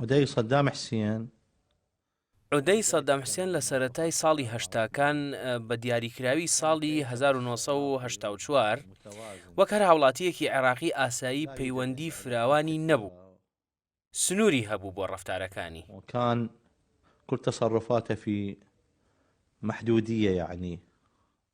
عودەی سەدام حسێن. عودەی سەدام حسێن لە سەرەتای ساڵی هەشتاکان بە دیاریکراوی ساڵی 1970 وەک هەر هاوڵاتیەکی عێراقی ئاسایی پەیوەندی فراوانی نەبوو سنووری هەبوو بۆ ڕفتارەکانی کان کورتە سەڕفاتەفی محدودیە یعنی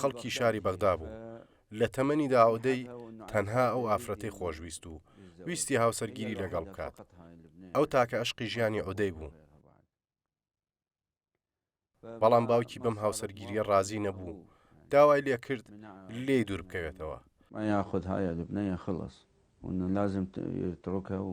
خەڵکی شاری بەغدا بوو لە تەمەنی دا ئەودەی تەنها ئەو ئافرەتی خۆشویست و ویستی هاوسەرگیری لەگەڵ بکات ئەو تاکە ئەشقی ژیانی ئۆدەی بوو بەڵام باوکی بەم هاوسەرگیریە ڕازی نەبوو داوای لێ کرد لێ دوور بکەوێتەوە یاخود هاە لەبنەیە خلص لازم تڕۆکە و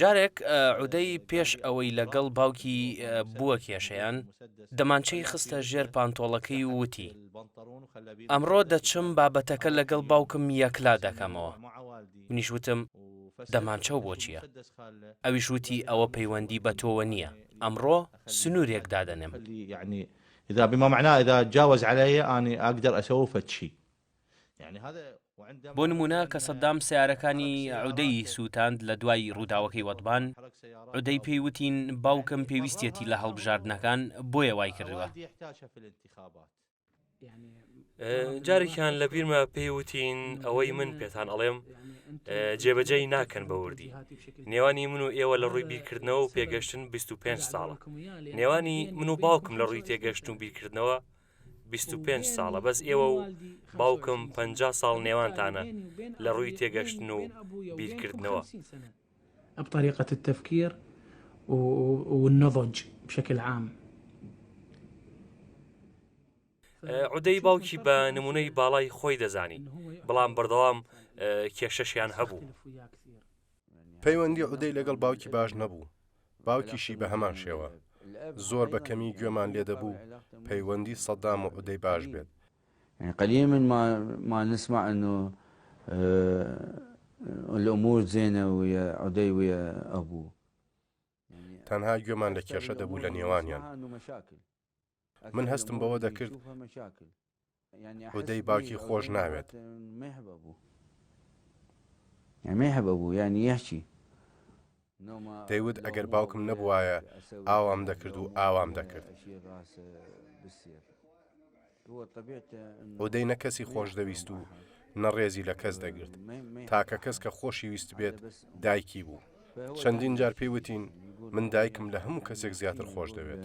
جارێک عودەی پێش ئەوەی لەگەڵ باوکی بووە کێشەیان دەمانچەی خستە ژێر پانتۆڵەکەی وتی ئەمڕۆ دەچم بابەتەکە لەگەڵ باوکم یەکلا دەکەمەوە منیشوتم دەمانچە و بۆچیە ئەویش وتی ئەوە پەیوەندی بە تۆوە نییە ئەمڕۆ سنوورێک دادەنێم إذا بما معناه إذا تجاوز علي أنا أقدر أسوي فد شيء بۆ نموونە کە سەدام سەیارەکانی عودەی سووتاند لە دوای ڕووداوەکەی وەدبان، عودەی پێی وتین باوکم پێویستیەتی لە هەڵبژاردنەکان بۆیە وای کردووە. جارێکیان لە بیرمە پێی وتین ئەوەی من پێتان ئەڵێم جێبەجێی ناکەن بە وردی نێوانی من و ئێوە لە ڕووی بیرکردنەوە و پێگەشتن 25 ساڵە نێوانی من و باوکم لە ڕووی تێگەشت و بیرکردنەوە بیست و پێنج ساڵە بەس ئێوە و باوکم پەنجا ساڵ نێوانتانە لە ڕووی تێگەشتن و بیرکردنەوە. بطريقة التفكير والنضج بشكل عام. عودەی باوکی بە نمونەی باڵای خۆی دەزانی بڵام بەردەوام کێشەشیان هەبوو. پەیوەندی عودەی لەگەڵ باوکی باش نەبوو باوکیشی بە هەمان شێوە. زۆر بە کەمی گوێمان لێ دەبوو پەیوەندی سەدام و عودەی باش بێت. یەعنی قەلیل من ما نسمع انو الامور زینە ویە عودەی ویە ئەبوو. تەنها گوێمان لە کێشە دەبوو لە نێوانیان. من هەستم بەوە دەکرد عودەی باوکی خۆش ناوێت. دەیوت ئەگەر باوکم نەبووایە ئاوام دەکرد و ئاوام دەکرد. عودەی نە کەسی خۆش دەویست و نە ڕێزی لە کەس دەگرت. تاکە کەس کە خۆشی ویست بێت دایکی بوو. چەندین جار پێی وتین من دایکم لە هەموو کەسێک زیاتر خۆش دەوێت.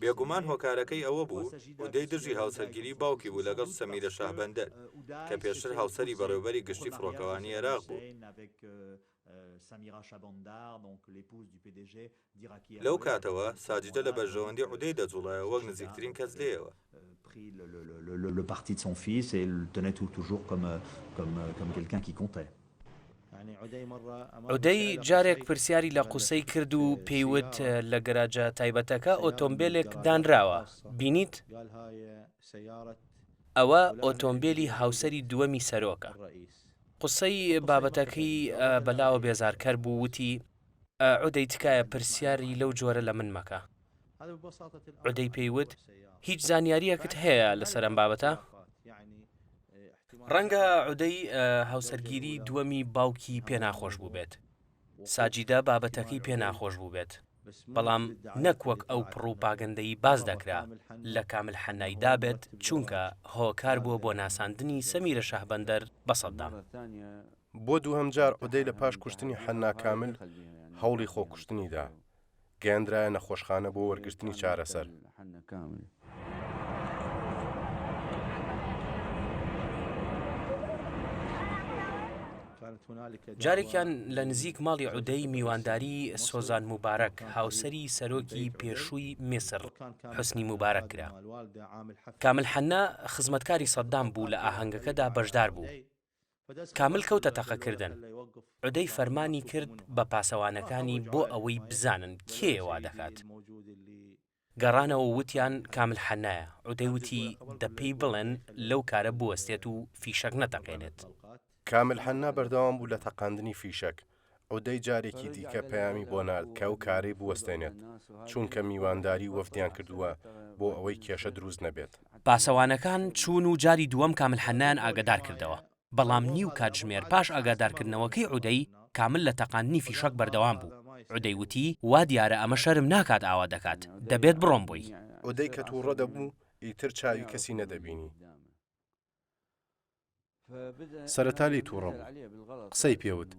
بێگومان هۆکارەکەی ئەوە بوو ئودەی دژی هاوسەرگیری باوکی بوو لەگەڵ سەمیرە شاهبەندەر، کە پێشتر هاوسەری بەڕێوبەری گشتی فڕۆکەوانی عێراق بوو. لەو کاتەوە ساجیدە لە بەرژەوەندی ئودەی دەجوڵایەوە وەک نزیکترین کەس لێیەوە. pris le le le le le parti de son fils et le tenait tout toujours comme comme comme quelqu'un qui comptait. عودەی جارێک پرسیاری لە قوسەی کرد و پێی وت لە گەراجە تایبەتەکە ئۆتۆمبێلێک دانراوە بینیت؟ ئەوە ئۆتۆمبێلی هاوسەری دووەمی سەرۆکە. قوسەی بابەتەکەی بەلاوە بێزارکەر بوو وتی، عودەی تکایە پرسیاری لەو جۆرە لە من مەکە. عودەی پێی وت، هیچ زانیارییەکت هەیە لەسەر ئەم بابەتە؟ ڕەنگە عودەی هاوسەرگیری دووەمی باوکی پێ ناخۆش بووبێت. ساجیدە بابەتەکەی پێ ناخۆش بووبێت، بەڵام نەک وەک ئەو پڕوپاگەندەی باس دەکرا لە کامل حەنای دابێت، چونکە هۆکار بووە بۆ ناساندنی سەمیرە شەهبەندەر بە سەددام. بۆ دووهەم جار عودەی لە پاش کوشتنی حەنا کامل هەوڵی خۆکوشتنی دا، گەیاندرایە نەخۆشخانە بۆ وەرگرتنی چارەسەر. جارێکیان لە نزیک ماڵی عودەی میوانداری سۆزان موبارەک هاوسەری سەرۆکی پێشووی میسر حسنی موبارەک کرا کامل حەننا خزمەتکاری سەددام بوو لە ئاهەنگەکەدا بەشدار بوو. کامل کەوتە تەقە کردن. عودەی فەرمانی کرد بە پاسەوانەکانی بۆ ئەوەی بزانن کێیە وا دەکات. گەڕانەوە وتیان کامل حەنایە. عودەی وتی دە پێی بڵێن لەو کارە بوەستێت و فیشەک نەتەقێنێت. کامل حەنا بەردەوام بوو لە تەقاندنی فیشەک. عودەی جارێکی دیکە پەیامی بۆ نارد کە ئەو کارەی بوەستێنێت، چونکە میوانداری وەفدیان کردووە بۆ ئەوەی کێشە دروست نەبێت. پاسەوانەکان چوون و جاری دووەم کامل حەنایان ئاگادار کردەوە، بەڵام نیو کاتژمێر پاش ئاگادارکردنەوەکەی عودەی، کامل لە تەقاندنی فیشەک بەردەوام بوو، عودەی وتی، وا دیارە ئەمە شەرم ناکات ئاوا دەکات، دەبێت بڕۆم بۆی. عودەی کە توڕە دەبوو، ئیتر چاوی کەسی نەدەبینی. سەرەتا لێی توڕە بوو قسەی پێوت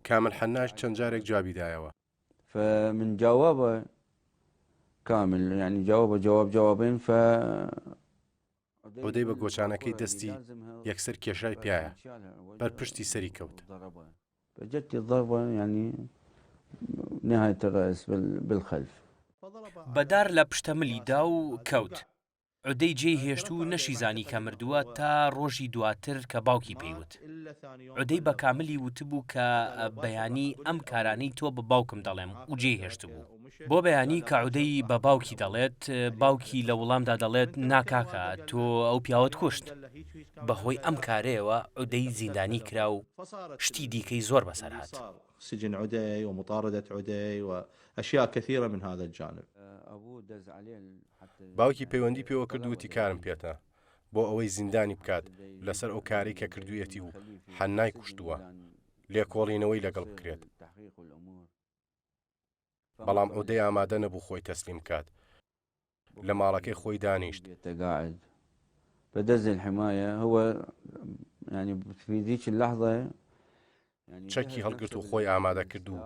کامل حەناش چەند جارێک جوابی دایەوە فمن جواب كامل يعني جواب جواب جوابين ف عودەی بە گۆچانەکەی دەستی یەکسەر کێشای پیایە بەر پشتی سەری کەوت جەتی ضربە ینی نهایت ڕئس بالخەلف بەدار لە پشتەملی دا و کەوت. عودەی جێی هێشت و نەشیزانی کە مردووە تا ڕۆژی دواتر کە باوکی پێیوت عودەی بە کاملی وتبوو کە بەیانی ئەم کارانەی تۆ بە باوکم دەڵێم و جێی هێشت بوو بۆ بەیانی کە عودەی بە باوکی دەڵێت باوکی لە وڵامدا دەڵێت ناکاکە تۆ ئەو پیاوت کوشت بەهۆی ئەم کارەیەوە عودەی زیندانی کرا و شتی دیکەی زۆر بەسەر هات. سجن عدي ومطاردة عدي واشياء كثيرة من هذا الجانب. باوکی پەیوەندی پێوە کرد وتی کارم پێتە بۆ ئەوەی زیندانی بکات لەسەر ئەو کارەی کە کردویەتی و حەنای کوشتووە لێکۆڵینەوەی لەگەڵ بکرێت بەڵام ئەو دەی ئامادە نەبوو خۆی تەسلیم بکات لە ماڵەکەی خۆی دانیشت بدز الحماية هو يعني في ذيك اللحظة چەکی هەڵگرت و خۆی ئامادە کرد و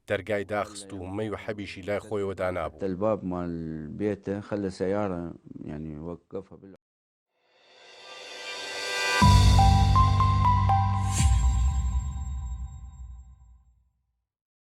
دەرگای داخست و مەی و حەبیشی لای خۆیەوە دانابوو.